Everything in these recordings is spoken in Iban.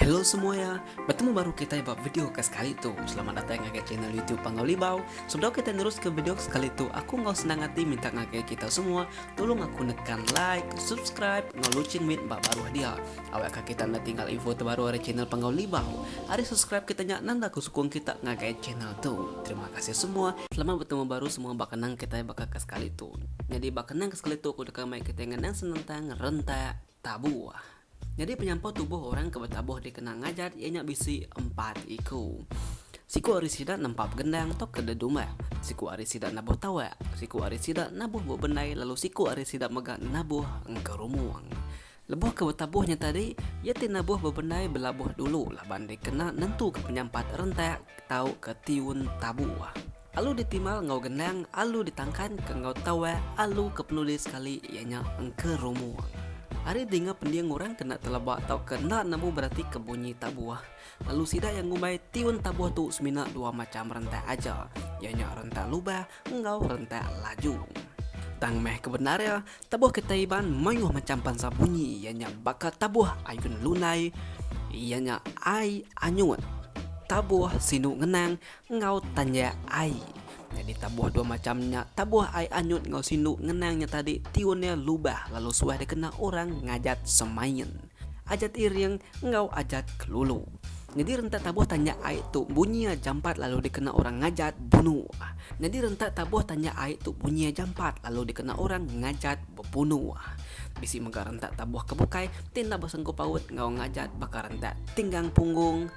Hello semua ya, bertemu baru kita ya buat video ke sekali tu. Selamat datang ngagai channel YouTube Panggau Libau. Sebelum kita terus ke video ke sekali tu, aku ngau senang hati minta ngagai kita semua tolong aku nekan like, subscribe, ngau loceng mit bak baru dia. Awak ka kita enda tinggal info terbaru ari channel Panggau Libau. Ari subscribe kita nya nanda ku sukung kita ngagai channel tu. Terima kasih semua. Selamat betemu baru semua ba kenang kitai baka ke sekali tu. Nyadi ba kenang ke sekali tu aku deka mai kitai ngenang senentang rentak tabuh. Nyadi penyampau tubuh orang ke betabuh di kenang ngajat iya nya bisi empat iku. Siku ari sida nempap gendang tauka dedumbak, siku ari sida nabuh tawak, siku ari sida nabuh bebendai lalu siku ari sida mega nabuh engkerumung. Lebuh ke betabuh nya tadi, iya ti nabuh bebendai belabuh dulu laban dikena nentuka penyampat rentak tauka tiun tabu. Alu ditimal enggau gendang, alu ditangkanka enggau tawak, alu ke penuli sekali iya nya engka rumung. Ari dinga pending orang kena teleba tauka enda nemu beratika bunyi tabuh, lalu sida iya ngumbai tiun tabuh tu semina dua macham rentak aja, iya nya rentak lubah enggau rentak laju. Tang meh ke bendar iya, Tabuh kitai Iban mayuh macham bansa bunyi iya nya baka tabuh ayun lunai iya nya ai anyut, tabuh sinu ngenang enggau tanjak ai. Nyadi tabuh dua macham nya tabuh ai anyut enggau sinu ngenang nya tadi tiun iya lubah lalu suah dikena orang ngajat semain. Ajat iring enggau ajat kelulu. Nyadi rentak tabuh tanja ai tu bunyia jampat lalu dikena orang ngajat bunu. Nyadi rentak tabuh tanja ai tu bunyia jampat lalu dikena orang ngajat bebunu. Bisi mega rentak tabuh ke bukai ti enda besengkup paut enggau ngajat baka rentak tinggang punggung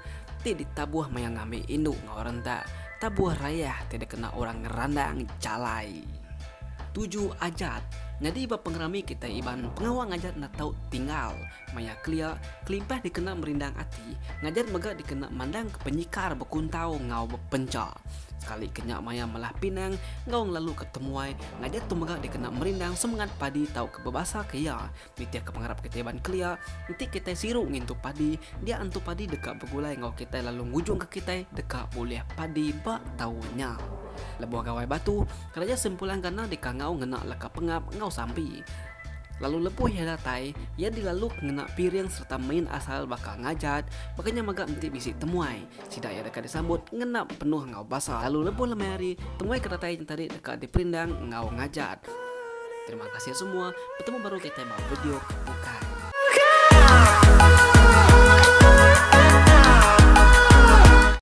ti ditabuh maya ngambi indu enggau rentak tabuh rayah ti dikena orang ngerandang jalai. Tuju Ajat Nyadi ba pengerami kitai Iban pengawa ngajar enda tau tinggal maya kelia kelimpah dikena merindang ati ngajar mega dikena mandangka penyikar bekuntau enggau bepencha sekali ke nya maya melah pinang enggau ngelaluka temuai ngajar tu mega dikena merindang semengat padi tauka bebasaka iya Nitihka pengarap kitai ban kelia, enti kitai siru ngintu padi, dia antu padi deka begulai enggau kitai lalu ngujungka kitai deka bulih padi ba taun nya. Lebuh Gawai Batu, Keraja Sempulang Gana dikangau ngena leka pengap enggau sampi. Lalu lebuh iya datai, iya dilaluk ngena piring sereta main asal baka ngajat, baka nya mega enti bisi temuai. Sida iya deka disambut ngena penuh enggau basa lalu lebuh lemai hari temui ke datai nyentari deka diperindang enggau ngajat. Terima kasih semua, betemu baru kitai ba video ke bukai.